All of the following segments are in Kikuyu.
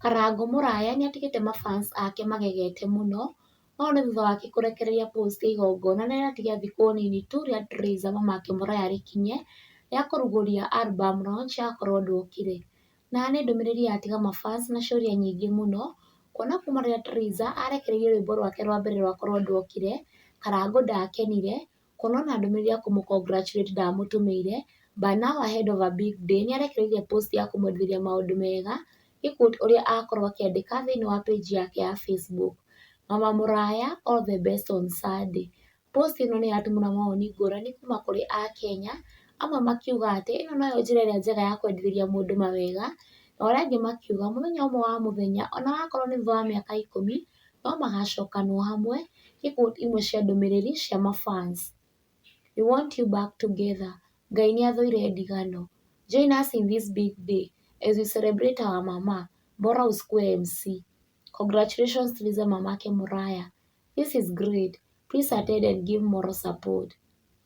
Karango mũraya nĩ atigĩte ma fans ake magegete mũno, no nĩ thutha wake kũrekereria post ya igongona na nĩ atiga thikũ nini tu rĩa Trayz na mamake mũraya rĩkinye, rĩa kũrugũria album launch ya korwo ndwokire. Na nĩ ndũmĩrĩri yatiga ma fans na ciũria nyingĩ mũno, kuona kuma rĩrĩa Trayz arekereirie rwĩmbo rwake rwa mbere rwa korwo ndwokire, Karango ndakenire, Kuona ona ndũmĩrĩri ya kũmũ congratulate ndamũtũmĩire, but now ahead of a big day nĩ arekereirie post ya kũmwendithĩria maũndũ mega, gĩ quote ũrĩa akorwo akĩandĩka thĩinĩ wa page yake ya Facebook. Mama mũraya all the best on sir day. Post ĩno nĩ ĩratũmwo na mawoni ngũrani kuma kũrĩ Akenya, amwe makiuga atĩ ĩno noyo njĩra ĩrĩa njega ya kwendithĩria mũndũ mawega, na arĩa angĩ makiuga mũthenya ũmwe wa mũthenya ona wakorwo nĩ thutha wa mĩaka ikũmi. no magacokanwo hamwe ikundi imwe cia ndũmĩrĩri cia ma fans. We want you back together Ngai nĩ athũire ndigano. Join us in this big day as we celebrate our mama bora ũskue MC. Congratulations Liza Mamake Mũraya. This is great please attend and give moral support.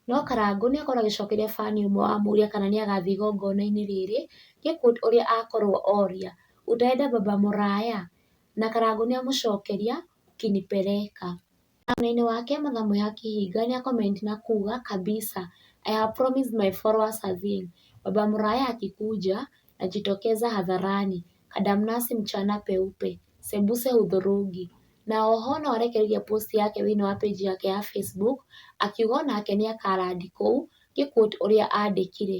No Karangũ nĩ akorwo agĩcokeria fan ũmwe wamũria kana nĩ agathiĩ igongona-inĩ rĩrĩ, nĩ kũ ũrĩa akorwo oria, utaenda baba Mũraya? Na Karangũ nĩamũcokeria, Ukinipeleka. Na mwena-inĩ wake Mathamũ ya Kĩhinga nĩa comment na kuga, Kabisa, I have promised my followers a thing, Baba Muraya akikuja, najitokeza hadharani, kadamnasi mchana peupe, sembuse hudhurungi. Na o ho no arekereirie post yake thĩinĩ wa page yake ya Facebook, akiuga o nake nĩakarandi kũu, ngĩ quote ũrĩa andĩkire,